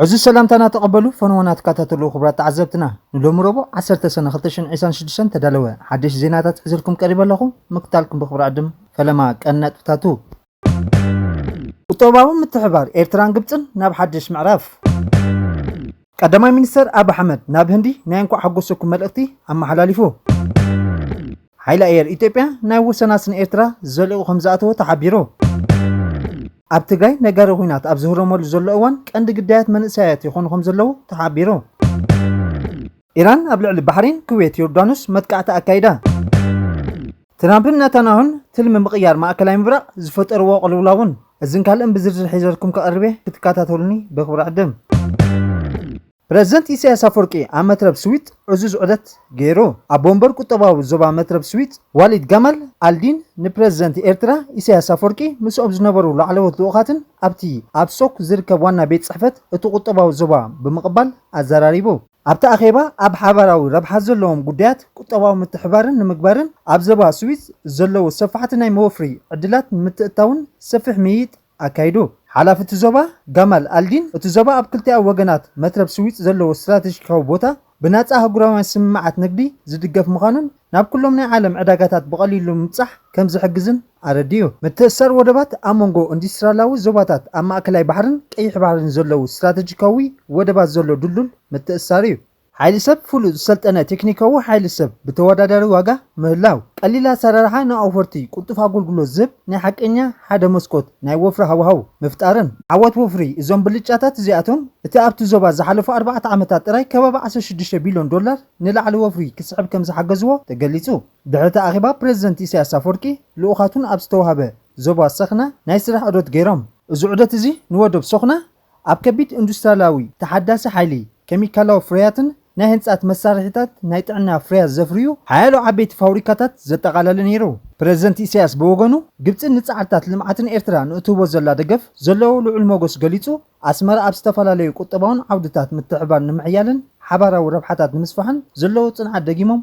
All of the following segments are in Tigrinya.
ዕዙዝ ሰላምታና ተቐበሉ ፈነወና ትከታተሉ ክቡራት ተዓዘብትና ንሎሚ ረቡዕ 10 ሰነ 226 ተዳለወ ሓደሽ ዜናታት ሒዘልኩም ቀሪበ ኣለኹ ምክታልኩም ብክብሪ ዕድም ፈለማ ቀን ነጥብታቱ ቁጠባዊ ምትሕብባር ኤርትራን ግብጽን ናብ ሓድሽ ምዕራፍ። ቀዳማይ ሚኒስተር ኣቢ ኣሕመድ ናብ ህንዲ ናይ እንኳዕ ሓጎሰኩም መልእኽቲ ኣመሓላሊፉ። ሓይሊ ኣየር ኢትዮጵያ ናይ ወሰናስ ንኤርትራ ዘልእቑ ከምዝኣተወ ተሓቢሩ። ኣብ ትግራይ ነጋሪ ኹናት ኣብ ዝህረመሉ ዘሎ እዋን ቀንዲ ግዳያት መንእሰያት ይኾኑ ከምዘለዉ ተሓቢሩ። ኢራን ኣብ ልዕሊ ባሕሬን፣ ኩዌት፣ ዮርዳኖስ መጥቃዕቲ ኣካይዳ። ትራምፕን ናታንያሁን ትልሚ ምቕያር ማእከላይ ምብራቕ ዝፈጠርዎ ቅልውላውን እዝን ካልእን ብዝርዝር ሒዘልኩም ክቐርብ'የ ክትከታተሉኒ በኽብሪ ዕድም። ፕረዚደንት ኢሳይያስ ኣፍወርቂ ኣብ መትረብ ስዊጥ ዕዙዝ ዑደት ገይሩ። ኣቦ ወንበር ቁጠባዊ ዞባ መትረብ ስዊጥ ዋሊድ ጋማል ኣልዲን ንፕረዚደንት ኤርትራ ኢሳይያስ ኣፍወርቂ ምስኦም ዝነበሩ ላዕለዎት ልኡኻትን ኣብቲ ኣብ ሶክ ዝርከብ ዋና ቤት ጽሕፈት እቲ ቁጠባዊ ዞባ ብምቕባል ኣዘራሪቡ። ኣብቲ ኣኼባ ኣብ ሓባራዊ ረብሓ ዘለዎም ጉዳያት ቁጠባዊ ምትሕብባርን ንምግባርን ኣብ ዘባ ስዊዝ ዘለዉ ሰፋሕቲ ናይ መወፍሪ ዕድላት ንምትእትታውን ሰፊሕ ምይይጥ ኣካይዱ። ሓላፊ እቲ ዞባ ጋማል ኣልዲን እቲ ዞባ ኣብ ክልቲኣዊ ወገናት መትረብ ስዊጽ ዘለዎ ስትራተጂካዊ ቦታ ብናጻ ኣህጉራውያን ስምምዓት ንግዲ ዝድገፍ ምዃኑን ናብ ኩሎም ናይ ዓለም ዕዳጋታት ብቐሊሉ ንምብጻሕ ከም ዝሕግዝን ኣረዲኡ። ምትእስሳር ወደባት፣ ኣብ መንጎ ኢንዱስትርያላዊ ዞባታት ኣብ ማእከላይ ባሕርን ቀይሕ ባሕርን ዘለዉ ስትራተጂካዊ ወደባት ዘሎ ድልዱል ምትእስሳር እዩ። ሓይሊ ሰብ፣ ፍሉጥ ዝሰልጠነ ቴክኒካዊ ሓይሊ ሰብ፣ ብተወዳዳሪ ዋጋ ምህላው፣ ቀሊል ኣሰራርሓ ንኣውፈርቲ፣ ቅልጡፍ ኣገልግሎት ዝህብ ናይ ሓቀኛ ሓደ መስኮት ናይ ወፍሪ ሃዋህው ምፍጣርን። ዓወት ወፍሪ እዞም ብልጫታት እዚኣቶም፣ እቲ ኣብቲ ዞባ ዝሓለፉ ኣርባዕተ ዓመታት ጥራይ ከባቢ ዓሰርተ ሽዱሽተ ቢልዮን ዶላር፣ ንላዕሊ ወፍሪ ክስሕብ ከምዝሓገዝዎ ተገሊፁ። ድሕሪ'ቲ ኣኼባ ፕረዚደንት ኢሳያስ ኣፍወርቂ ልኡኻቱን ኣብ ዝተውሃበ ዞባ ሰኽና ናይ ስራሕ ዑደት ገይሮም። እዚ ዑደት እዚ ንወደብ ሰኽና ኣብ ከቢድ ኢንዱስትሪያላዊ፣ ተሓዳሲ ሓይሊ፣ ኬሚካላዊ ፍርያትን ናይ ህንፃት መሳርሒታት ናይ ጥዕና ፍርያት ዘፍርዩ ሓያሎ ዓበይቲ ፋውሪካታት ዘጠቓለለ ነይሩ። ፕረዚደንት ኢሳያስ ብወገኑ ግብፂ ንፃዕርታት ልምዓትን ኤርትራ ንእትህቦ ዘላ ደገፍ ዘለዎ ልዑል ሞገስ ገሊፁ። ኣስመራ ኣብ ዝተፈላለዩ ቁጠባውን ዓውድታት ምትሕብባር ንምሕያልን ሓባራዊ ረብሓታት ንምስፋሕን ዘለዎ ጽንዓት ደጊሞም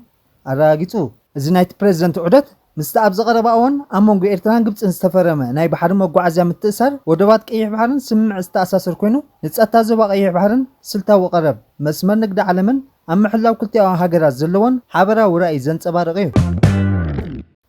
ኣረጋጊጹ። እዚ ናይቲ ፕረዚደንት ዑደት፣ ምስቲ ኣብዚ ቀረባ እዋን ኣብ መንጎ ኤርትራን ግብጽን ዝተፈረመ ናይ ባሕሪ መጓዓዝያ ምትእስሳር ወደባት ቀይሕ ባሕርን ስምምዕ ዝተኣሳሰር ኮይኑ፣ ንጸጥታ ዞባ ቀይሕ ባሕርን ስልታዊ ቀረብ መስመር ንግዲ ዓለምን ኣብ ምሕላው ክልቲኣዊ ሃገራት ዘለወን ሓበራዊ ራእይ ዘንጸባርቕ እዩ።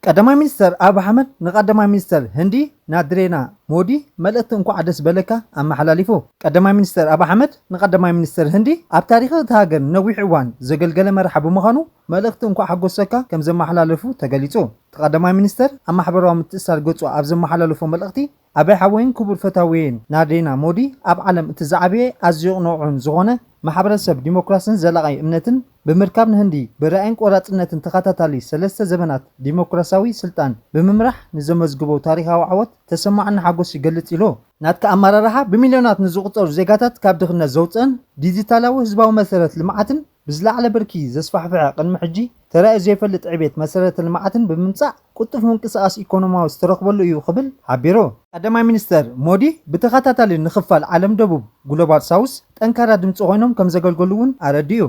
ቀዳማይ ሚኒስተር ኣብይ ኣሕመድ ንቀዳማይ ሚኒስተር ህንዲ ናድሬና ሞዲ መልእኽቲ እንኳዕ ደስ በለካ ኣመሓላሊፉ። ቀዳማይ ሚኒስተር ኣብይ ኣሕመድ ንቀዳማይ ሚኒስተር ህንዲ ኣብ ታሪኽ እታ ሃገር ንነዊሕ እዋን ዘገልገለ መራሒ ብምዃኑ መልእኽቲ እንኳዕ ሓጎሰካ ከምዘመሓላለፉ ተገሊፁ። እቲ ቀዳማይ ሚኒስተር ኣብ ማሕበራዊ ምትእስሳር ገፁ ኣብ ዘመሓላለፎ መልእኽቲ፣ ኣበይ ሓወይን ክቡር ፈታዊየይን ናርዲና ሞዲ ኣብ ዓለም እቲ ዝዓበየ ኣዝዩ ቅኑዕን ዝኾነ ማሕበረሰብ ዲሞክራስን ዘላቒ እምነትን ብምርካብ ንህንዲ ብራኢን ቆራፅነትን ተኸታታሊ ሰለስተ ዘበናት ዲሞክራስያዊ ስልጣን ብምምራሕ ንዘመዝግቦ ታሪኻዊ ዓወት ተሰማዕኒ ሓጎስ ይገልፅ ኢሉ። ናትካ ኣመራርሓ ብሚልዮናት ንዝቑፀሩ ዜጋታት ካብ ድኽነት ዘውፅእን ዲዚታላዊ ህዝባዊ መሰረት ልምዓትን፣ ብዝለዓለ ብርኪ ዘስፋሕፍሐ ቅድሚ ሕጂ ተራእዩ ዘይፈልጥ ዕቤት መሰረተ ልምዓትን ብምምፃእ ቅልጡፍ ምንቅስቓስ ኢኮኖማዊ ዝተረኽበሉ እዩ ክብል ሓቢሩ። ቀዳማይ ሚኒስትር ሞዲ ብተኸታታሊ ንክፋል ዓለም ደቡብ፣ ግሎባል ሳውስ፣ ጠንካራ ድምፂ ኮይኖም ከምዘገልገሉ እውን ኣረዲኡ።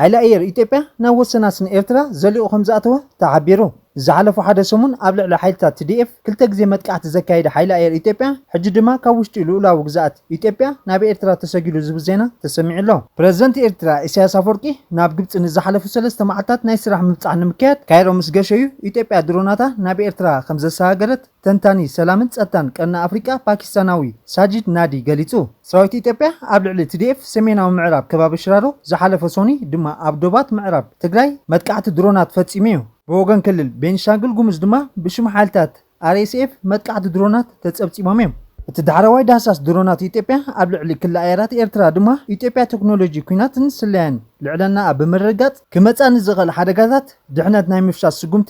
ሓይሊ ኣየር ኢትዮጵያ ናብ ወሰናስን ኤርትራ ዘሊቑ ከምዝኣተወ ተሓቢሩ። ዝሓለፉ ሓደ ሰሙን ኣብ ልዕሊ ሓይልታት TDF ክልተ ግዜ መጥቃዕቲ ዘካየደ ሓይሊ ኣየር ኢትዮጵያ፣ ሕጂ ድማ ካብ ውሽጢ ልኡላዊ ግዝኣት ኢትዮጵያ ናብ ኤርትራ ተሰጊሩ ዝብል ዜና ተሰሚዑ ኣሎ። ፕረዚደንት ኤርትራ ኢሳያስ ኣፍወርቂ ናብ ግብጺ ንዝሓለፉ ሰለስተ መዓልታት ናይ ስራሕ ምብጻሕ ንምክያድ ካይሮ ምስ ገሸ'ዩ ኢትዮጵያ ድሮናታ ናብ ኤርትራ ከምዘሰጋገረት ተንታኒ ሰላምን ጸጥታን ቀርኒ ኣፍሪቃ ፓኪስታናዊ ሳጂድ ናዲ ገሊጹ። ሰራዊት ኢትዮጵያ ኣብ ልዕሊ ቲዲኤፍ ሰሜናዊ ምዕራብ ከባቢ ሽራሮ ዝሓለፈ ሶኑይ ድማ ኣብ ዶባት ምዕራብ ትግራይ መጥቃዕቲ ድሮናት ፈጺሙ'ዩ። ብወገን ክልል ቤንሻንጉል ጉሙዝ ድማ ብሽም ሓይልታት RSF መጥቃዕቲ ድሮናት ተጸብጺቦም'ዮም። እቲ ዳሕረዋይ ዳህሳስ ድሮናት ኢትዮጵያ ኣብ ልዕሊ ክሊ ኣየራት ኤርትራ ድማ ኢትዮጵያ ቴክኖሎጂ ኲናትን ስለያን ልዕለናኣ ብምርግጋጽ ክመጻ ንዝኽእል ሓደጋታት ድሕነት ናይ ምፍሻል ስጉምቲ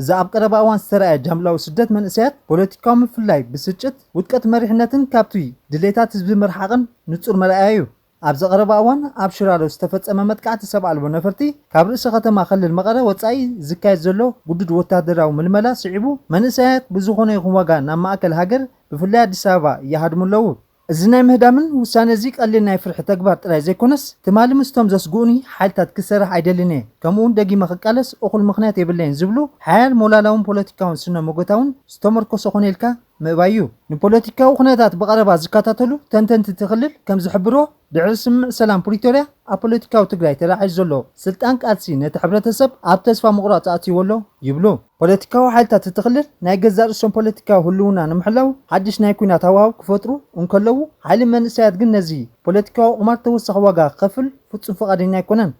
እዚ ኣብ ቀረባ እዋን ዝተራእየ ጃምላዊ ስደት መንእሰያት፣ ፖለቲካዊ ምፍልላይ፣ ብስጭት፣ ውድቀት መሪሕነትን ካብቲ ድሌታት ህዝቢ ምርሓቕን ንጹር መርኣያ'ዩ። ኣብዚ ቀረባ እዋን ኣብ ሽራሮ ዝተፈጸመ መጥቃዕቲ ሰብ ኣልቦ ነፈርቲ፣ ካብ ርእሰ ከተማ ክልል መቐለ ወጻኢ ዝካየድ ዘሎ ግዱድ ወተሃደራዊ ምልመላ ስዒቡ፣ መንእሰያት ብዝኾነ ይኹን ዋጋ ናብ ማእከል ሃገር ብፍላይ ኣዲስ ኣበባ ይሃድሙ ኣለዉ። እዚ ናይ ምህዳምን ውሳነ'ዚ ቀሊል ናይ ፍርሒ ተግባር ጥራይ ዘይኮነስ፣ ትማሊ ምስቶም ዘስግኡኒ ሓይልታት ክሰርሕ ኣይደልን'የ፣ ከምኡ'ውን ደጊመ ክቃለስ እኹል ምኽንያት የብለይን ዝብሉ ሓያል ሞላላውን ፖለቲካውን ስነ-ሞጎታውን ዝተመርኮሰ ኮነ ኢልካ ምእባይ'ዩ። ንፖለቲካዊ ኩነታት ብቐረባ ዝከታተሉ ተንተንቲ'ቲ ክልል ከምዝሕብርዎ፣ ድሕሪ ስምምዕ ሰላም ፕሪቶርያ ኣብ ፖለቲካዊ ትግራይ ተላዒሉ ዘሎ ስልጣን ቃልሲ ነቲ ሕብረተሰብ ኣብ ተስፋ ምቑራጽ ኣእትይዎ ኣሎ ይብሉ። ፖለቲካዊ ሓይልታት እቲ ክልል ናይ ገዛእ ርእሶም ፖለቲካዊ ህልውና ንምሕላው ሓድሽ ናይ ኲናት ሃዋህው ክፈጥሩ እንከለዉ፣ ሓይሊ መንእሰያት ግን ነዚ ፖለቲካዊ ቁማር ተወሳኺ ዋጋ ክኸፍል ፍጹም ፍቓደኛ ኣይኮነን።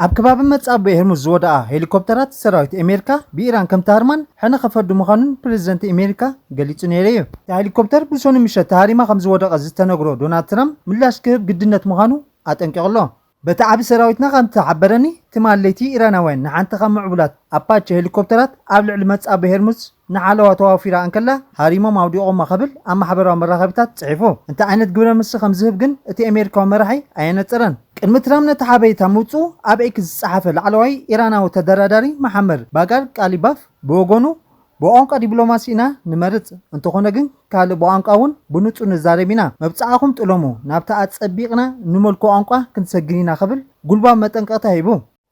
ኣብ ከባቢ መጻብቦ ኤርሙዝ ዝወደቓ ሄሊኮፕተራት ሰራዊት ኤሜሪካ ብኢራን ከም ተሃርማን ሕነ ከፈዲ ምዃኑን ፕረዚደንት ኤሜሪካ ገሊጹ ነይሩ'ዩ። እታ ሄሊኮፕተር ብሶኑይ ምሸት ተሃሪማ ከምዝወደቐት ዝተነግሮ ዶናልድ ትራምፕ ምላሽ ክህብ ግድነት ምዃኑ ኣጠንቂቑ'ሎ። በቲ ዓቢ ሰራዊትና ከም ዝተሓበረኒ፣ ትማል ለይቲ ኢራናውያን ንሓንቲ ካብ ምዕቡላት ኣፓቸ ሄሊኮፕተራት ኣብ ልዕሊ መጻብቦ ሄርሙዝ ንሓለዋ ተዋፊራ እንከላ ሃሪሞም ኣውዲቖማ ክብል ኣብ ማሕበራዊ መራኸቢታት ጽሒፉ። እንታይ ዓይነት ግብረ መልሲ ከም ዝህብ ግን እቲ ኣሜሪካዊ መራሒ ኣየነጸረን። ቅድሚ ትራምፕ ነቲ ሓበሬታ ምውጽኡ ኣብ ኤክስ ዝጸሓፈ ላዕለዋይ ኢራናዊ ተደራዳሪ መሓመር ባጋር ቃሊባፍ ብወገኑ፣ ብቋንቋ ዲብሎማሲ ኢና ንመርጽ እንተኾነ ግን ካልእ ብቋንቋ ውን ብንጹር ንዛረብ ኢና መብጽዓኹም ጥለሙ ናብታ ኣጸቢቕና እንመልኮ ቋንቋ ክንሰግን ኢና ክብል ጉልባብ መጠንቀቕታ ሂቡ።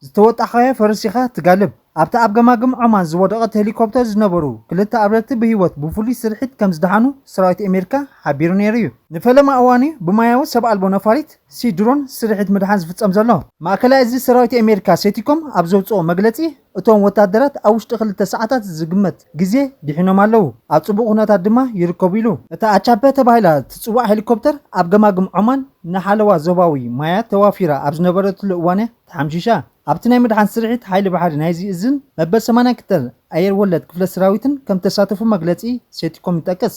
ዝተወጣሕካዮ ፈረስ ኢኻ ትጋልብ። ኣብታ ኣብ ገማግም ዖማን ዝወደቐት ሄሊኮፕተር ዝነበሩ ክልተ ኣብረርቲ ብህይወት ብፍሉይ ስርሒት ከም ዝደሓኑ ሰራዊት ኣሜሪካ ሓቢሩ ነይሩ'ዩ። ንፈለማ እዋን'ዩ ብሞያዊ ሰብ ኣልቦ ነፋሪት፣ ሲ ድሮን፣ ስርሒት ምድሓን ዝፍጸም ዘሎ። ማእከላይ እዝ ሰራዊት ኣሜሪካ፣ ሴቲኮም፣ ኣብ ዘውጽኦ መግለጺ፣ እቶም ወታደራት ኣብ ውሽጢ ክልተ ሰዓታት ዝግመት ግዜ ዲሒኖም ኣለዉ፣ ኣብ ጽቡቕ ኩነታት ድማ ይርከቡ ኢሉ። እታ ኣቻፐ ተባሂላ እትጽዋዕ ሄሊኮፕተር ኣብ ገማግም ዖማን ንሓለዋ ዞባዊ ማያት ተዋፊራ ኣብ ዝነበረትሉ እዋን'ያ ተሓምሺሻ። ኣብቲ ናይ ምድሓን ስርሒት ሓይሊ ባሕሪ ናይዚ እዝን መበል ሰማንያን ክልተን ኣየር ወለድ ክፍለ ሰራዊትን ከምተሳተፉ መግለጺ ሴንቲኮም ይጠቅስ።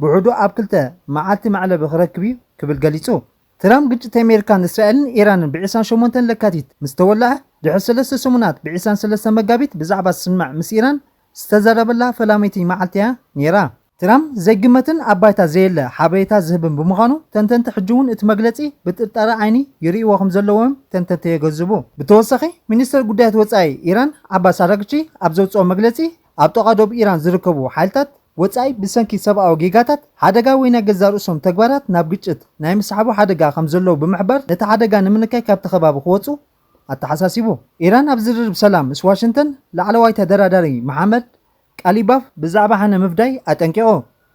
ብውሕዱ ኣብ ክልተ መዓልቲ መዕለቢ ክረክብ'ዩ ክብል ገሊጹ። ትራምፕ ግጭት ኣሜሪካን እስራኤልን ኢራንን ብ ዕስራን ሸሞንተን ለካቲት ምስ ተወልዐ ድሕሪ ሰለስተ ሰሙናት ብ ዕስራን ሰለስተን መጋቢት ብዛዕባ ስምምዕ ምስ ኢራን ዝተዛረበላ ፈላመይቲ መዓልቲ'ያ ነይራ። ትራምፕ ዘይግመትን ኣብ ባይታ ዘየለ ሓበሬታ ዝህብን ብምዃኑ ተንተንቲ ሕጂ'ውን እቲ መግለጺ ብጥርጣረ ዓይኒ ይርእይዎ ከምዘለዎ'ዮም ተንተንቲ የገዝቡ። ብተወሳኺ ሚኒስተር ጉዳያት ወጻኢ ኢራን ዓባስ ኣራግቺ ኣብ ዘውጽኦ መግለጺ ኣብ ጥቓ ዶብ ኢራን ዝርከቡ ሓይልታት፣ ወጻኢ ብሰንኪ ሰብኣዊ ጌጋታት ሓደጋ ወይ ናይ ገዛእ ርእሶም ተግባራት ናብ ግጭት ናይ ምስሓቡ ሓደጋ ከም ዘለዉ ብምሕባር ነቲ ሓደጋ ንምንካይ ካብቲ ከባቢ ክወጽኡ ኣተሓሳሲቡ። ኢራን ኣብ ዝርርብ ሰላም ምስ ዋሽንተን ላዕለዋይ ተደራዳሪ መሓመድ ቃሊባፍ ብዛዕባ ሕነ ምፍዳይ ኣጠንቂቑ።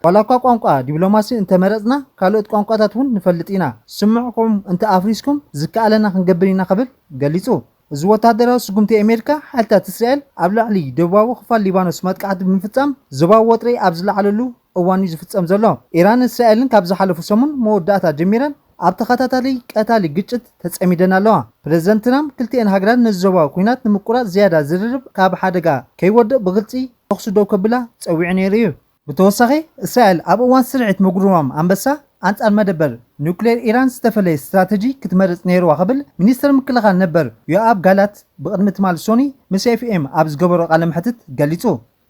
ዋላኳ ቋንቋ ዲብሎማሲ እንተ መረጽና ካልኦት ቋንቋታት እውን ንፈልጥ ኢና፣ ስምዕኹም እንተ ኣፍሪስኩም ዝከኣለና ክንገብር ኢና ክብል ገሊጹ። እዚ ወተሃደራዊ ስጉምቲ ኣሜሪካ፣ ሓይልታት እስራኤል ኣብ ልዕሊ ደቡባዊ ክፋል ሊባኖስ መጥቃዕቲ ብምፍጻም ዞባዊ ወጥሪ ኣብ ዝለዓለሉ እዋን'ዩ ዝፍጸም ዘሎ። ኢራንን እስራኤልን ካብ ዝሓለፉ ሰሙን መወዳእታ ጀሚረን ኣብ ተኸታታሊ ቀታሊ ግጭት ተጸሚደን ኣለዋ። ፕረዚደንት ትራምፕ ክልቲኤን ሃገራት ነዚ ዞባዊ ኲናት ንምቁራጽ ዝያዳ ዝርርብ ካብ ሓደጋ ከይወድቕ ብግልጺ ተኹሲ ደው ከብላ ጸዊዑ ነይሩ'ዩ። ብተወሳኺ፣ እስራኤል ኣብ እዋን ስርዒት ምጉርማም ኣንበሳ ኣንጻር መደበር ኒዩክሌር ኢራን ዝተፈለየ ስትራተጂ ክትመርጽ ነይርዋ ክብል ሚኒስተር ምክልኻል ነበር ዮኣቭ ጋላንት ብቕድሚ ትማል ሶኒ ምስ ኤፍኤም ኣብ ዝገበሮ ቃለ መሕትት ገሊጹ።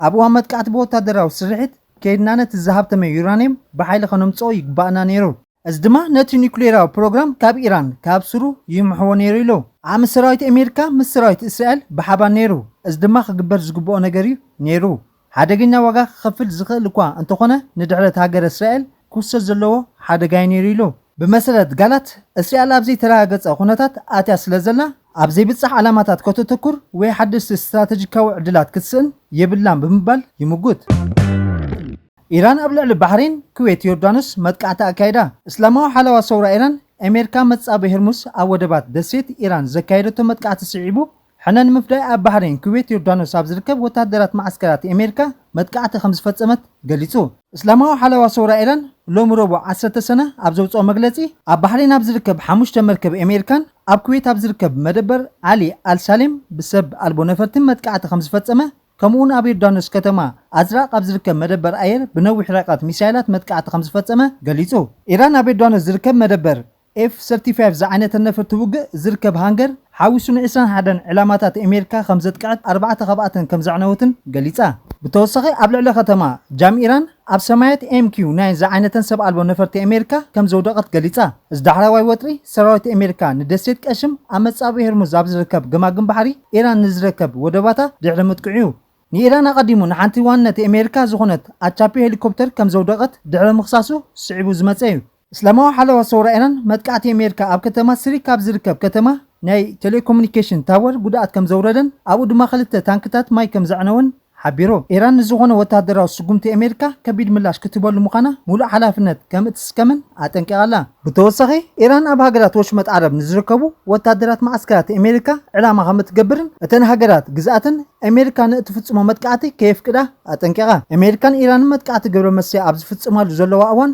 ኣብ እዋን መጥቃዕቲ ብወታደራዊ ስርሒት ከይድና ነቲ ዝሃብተመ ዩራንየም ብሓይሊ ከነምጽኦ ይግባእና ነይሩ። እዚ ድማ ነቲ ኑክሌራዊ ፕሮግራም ካብ ኢራን ካብ ሱሩ ይምሕዎ ነይሩ ኢሉ። ዓሚ ሰራዊት ኣሜሪካ ምስ ሰራዊት እስራኤል ብሓባር ነይሩ፣ እዚ ድማ ክግበር ዝግብኦ ነገር እዩ ነይሩ። ሓደገኛ ዋጋ ክኸፍል ዝኽእል እኳ እንተኾነ ንድሕረት ሃገረ እስራኤል ክውሰድ ዘለዎ ሓደጋ እዩ ነይሩ ኢሉ። ብመሰረት ጋላት፣ እስራኤል ኣብ ዘይተረጋገጸ ኩነታት ኣትያ ስለዘላ፣ ኣብ ዘይብጻሕ ዕላማታት ከተተኩር ወይ ሓደስቲ ስትራተጂካዊ ዕድላት ክትስእን የብላን ብምባል ይምጉት። ኢራን ኣብ ልዕሊ ባሕሬን፣ ኩዌት፣ ዮርዳኖስ መጥቃዕቲ ኣካይዳ። እስላማዊ ሓለዋ ሰውራ ኢራን፣ ኣሜሪካ መጻብብ ሄርሙስ ኣብ ወደባት ደሴት ኢራን ዘካየደቶ መጥቃዕቲ ስዒቡ፣ ሕነ ንምፍዳይ ኣብ ባሕሬን፣ ኩዌት፣ ዮርዳኖስ ኣብ ዝርከብ ወተሃደራት መዓስከራት ኣሜሪካ መጥቃዕቲ ከምዝፈጸመት ገሊጹ። እስላማዊ ሓለዋ ሰውራ ኢራን ሎሚ ረቡዕ ዓሰርተ ሰነ ኣብ ዘውጽኦ መግለጺ፣ ኣብ ባሕሬን ኣብ ዝርከብ ሓሙሽተ መርከብ ኣሜሪካን ኣብ ኩዌት ኣብ ዝርከብ መደበር ዓሊ ኣል ሳሌም ብሰብ ኣልቦ ነፈርቲ መጥቃዕቲ ከምዝፈጸመ ከምኡ'ውን ኣብ ዮርዳኖስ ከተማ ኣዝራቅ ኣብ ዝርከብ መደበር ኣየር ብነዊሕ ርሕቀት ሚሳይላት መጥቃዕቲ ከምዝፈጸመ ገሊጹ። ኢራን ኣብ ዮርዳኖስ ዝርከብ መደበር ኤፍ ሰርቲ ፋይቭ ዝዓይነተን ነፈርቲ ውግእ ዝርከብ ሃንገር ሓዊሱ ንዕስራን ሓደን ዕላማታት ኤሜሪካ ከምዘጥቅዐት ኣርባዕተ ካብኣተን ከምዘዕነወትን ገሊጻ። ብተወሳኺ ኣብ ልዕሊ ከተማ ጃም ኢራን ኣብ ሰማያት MQ ናይ ዝዓይነተን ሰብ ኣልቦ ነፈርቲ ኣሜሪካ ከም ዘውደቐት ገሊጻ። እዚ ዳሕረዋይ ወጥሪ፣ ሰራዊት ኣሜሪካ ንደሴት ቀሽም ኣብ መጻብቢ ሄርሙዝ ኣብ ዝርከብ ገማግም ባሕሪ ኢራን ንዝረከብ ወደባታ ድሕሪ ምጥቅዑ'ዩ። ንኢራን ኣቐዲሙ ንሓንቲ ዋንነት ኣሜሪካ ዝኾነት ኣቻፒ ሄሊኮፕተር ከም ዘውደቐት ድሕሪ ምኽሳሱ ስዒቡ ዝመጸ'ዩ። እስላማዊ ሓለዋ ሰውራ ኢራን መጥቃዕቲ ኣሜሪካ ኣብ ከተማ ስሪክ ኣብ ዝርከብ ከተማ ናይ ቴሌኮሙኒኬሽን ታወር ጉድኣት ከምዘውረደን ኣብኡ ድማ ክልተ ታንክታት ማይ ከምዘዕነወን ሓቢሩ። ኢራን ንዝኾነ ወተሃደራዊ ስጉምቲ ኣሜሪካ ከቢድ ምላሽ ክትህበሉ ምዃና ሙሉእ ሓላፍነት ከምእትስከምን ኣጠንቂቓ ኣላ። ብተወሳኺ ኢራን ኣብ ሃገራት ወሽመጥ ዓረብ ንዝርከቡ ወተሃደራት መዓስከራት ኣሜሪካ ዕላማ ከምእትገብርን እተን ሃገራት ግዝኣተን ኣሜሪካ ንእትፍፅሞ መጥቃዕቲ ከየፍቅዳ ኣጠንቂቓ። ኣሜሪካን ኢራንን መጥቃዕቲ ግብረመስርያ ኣብ ዝፍፅማሉ ዘለዋ እዋን፣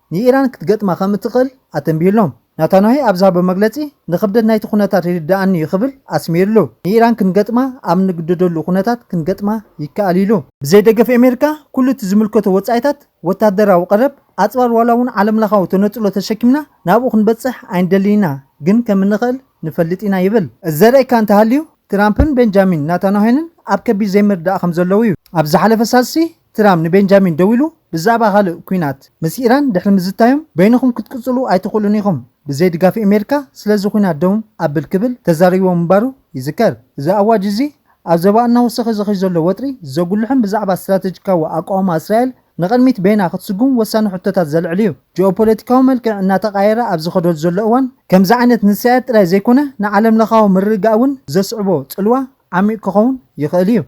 ንኢራን ክትገጥማ ከም እትኽእል ኣተንቢሁሎም። ናታንያሁ ኣብ ዝሃቦ መግለጺ፣ ንኽብደት ናይቲ ኵነታት ይርድኣኒ'ዩ ክብል ኣስሚርሉ። ንኢራን ክንገጥማ ኣብ እንግደደሉ ኵነታት ክንገጥማ ይከኣል ኢሉ። ብዘይ ደገፍ ኣሜሪካ ኩሉ እቲ ዝምልከቶ ወጻኢታት፣ ወተሃደራዊ ቀረብ፣ ኣጽዋር ዋላ'ውን ዓለምለኻዊ ተነጽሎ ተሸኪምና ናብኡ ክንበጽሕ ኣይንደልን ኢና፣ ግን ከም እንኽእል ንፈልጥ ኢና ይብል። እዚ ዘርእየካ እንተሃልዩ፣ ትራምፕን ቤንጃሚን ናታንያሁንን ኣብ ከቢድ ዘይምርድዳእ ከም ዘለዉ'ዩ። ኣብ ዝሓለፈ ሳልስቲ፣ ትራም ንቤንጃሚን ደዊሉ ብዛእባ ካልእ ኩናት ምስ ኢራን ድሕሪ ምዝታዮም በይንኹም ክትቅጽሉ ኣይትኽእሉን ኢኹም ብዘይ ድጋፍ ኤሜርካ ስለዚ ኩናት ደው ኣብል ክብል ተዛሪብዎ ምንባሩ ይዝከር። እዚ ኣዋጅ እዚ ኣብ ዘባ እናወሰኸ ዝኸይ ዘሎ ወጥሪ ዘጉልሕን ብዛዕባ ስትራተጂካዊ ኣቋውማ እስራኤል ንቐድሚት በይና ክትስጉም ወሳኒ ሕቶታት ዘልዕል እዩ። ጂኦፖለቲካዊ መልክዕ እናተቓየረ ኣብ ዝኸደሉ ዘሎ እዋን ከምዚ ዓይነት ንእስራኤል ጥራይ ዘይኮነ ንዓለምለኻዊ ምርግጋእ እውን ዘስዕቦ ጽልዋ ዓሚቕ ክኸውን ይኽእል እዩ።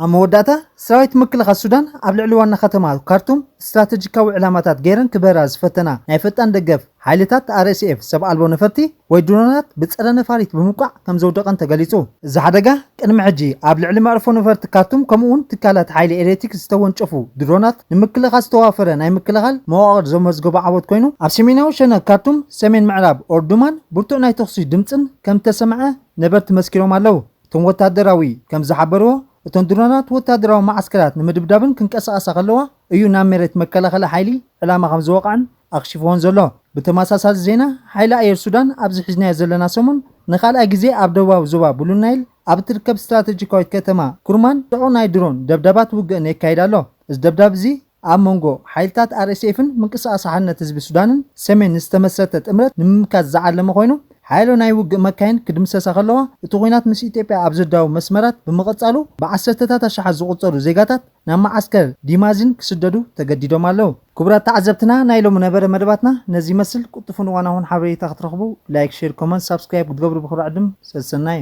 ኣብ መወዳእታ፣ ሰራዊት ምክልኻል ሱዳን ኣብ ልዕሊ ዋና ከተማ ካርቱም ስትራተጂካዊ ዕላማታት ገይረን ክበራ ዝፈተና ናይ ፈጣን ደገፍ ሓይልታት፣ RSF፣ ሰብ ኣልቦ ነፈርቲ ወይ ድሮናት ብጸረ ነፋሪት ብምውቃዕ ከምዘውደቐን ተገሊጹ። እዚ ሓደጋ ቅድሚ ሕጂ ኣብ ልዕሊ መዕርፎ ነፈርቲ ካርቱም ከምኡ'ውን ትካላት ሓይሊ ኤሌክትሪክ ዝተወንጨፉ ድሮናት ንምክልኻል ዝተዋፈረ ናይ ምክልኻል መዋቕር ዘመዝገቦ ዓወት ኮይኑ፣ ኣብ ሰሜናዊ ሸነኽ ካርቱም፣ ሰሜን ምዕራብ ኦርዱማን ብርቱዕ ናይ ተኹሲ ድምጽን ከምዝተሰምዐ ነበርቲ መስኪሮም ኣለው። እቶም ወታደራዊ ከም ዝሓበርዎ፣ እተን ድሮናት ወታደራዊ መዓስከራት ንምድብዳብን ክንቀሳቐሳ ከለዋ እዩ ናብ መሬት መከላኸሊ ሓይሊ ዕላማ ከም ዝወቕዐን ኣኽሺፍዎን ዘሎ። ብተመሳሳሊ ዜና፣ ሓይሊ ኣየር ሱዳን ኣብዚ ሒዝናዮ ዘለና ሰሙን ንኻልኣይ ግዜ ኣብ ደቡባዊ ዞባ ብሉ ናይል ኣብ እትርከብ ስትራተጂካዊት ከተማ ኩርማን ጽዑቕ ናይ ድሮን ደብዳባት ውግእን የካይድ ኣሎ። እዚ ደብዳብ እዚ፣ ኣብ መንጎ ሓይልታት ኣርኤስኤፍን ምንቅስቓስ ሓርነት ህዝቢ ሱዳንን ሰሜን ዝተመስረተ ጥምረት ንምምካት ዝዓለመ ኮይኑ፣ ሓያሎ ናይ ውግእ መካይን ክድምሰሳ ከለዋ፣ እቲ ኲናት ምስ ኢትዮጵያ ኣብ ዝዳወብ መስመራት ብምቕጻሉ ብዓሰርተታት ኣሽሓት ዝቑጸሩ ዜጋታት ናብ መዓስከር ዲማዚን ክስደዱ ተገዲዶም ኣለዉ። ክቡራት ተዓዘብትና ናይ ሎሚ ነበረ መደባትና ነዚ ይመስል፣ ቁልጡፍን እዋናውን ሓበሬታ ክትረኽቡ ላይክ ሼር ኮመንት ሳብስክራይብ ክትገብሩ ብኽብሪ ዕድም ሰሰናዩ።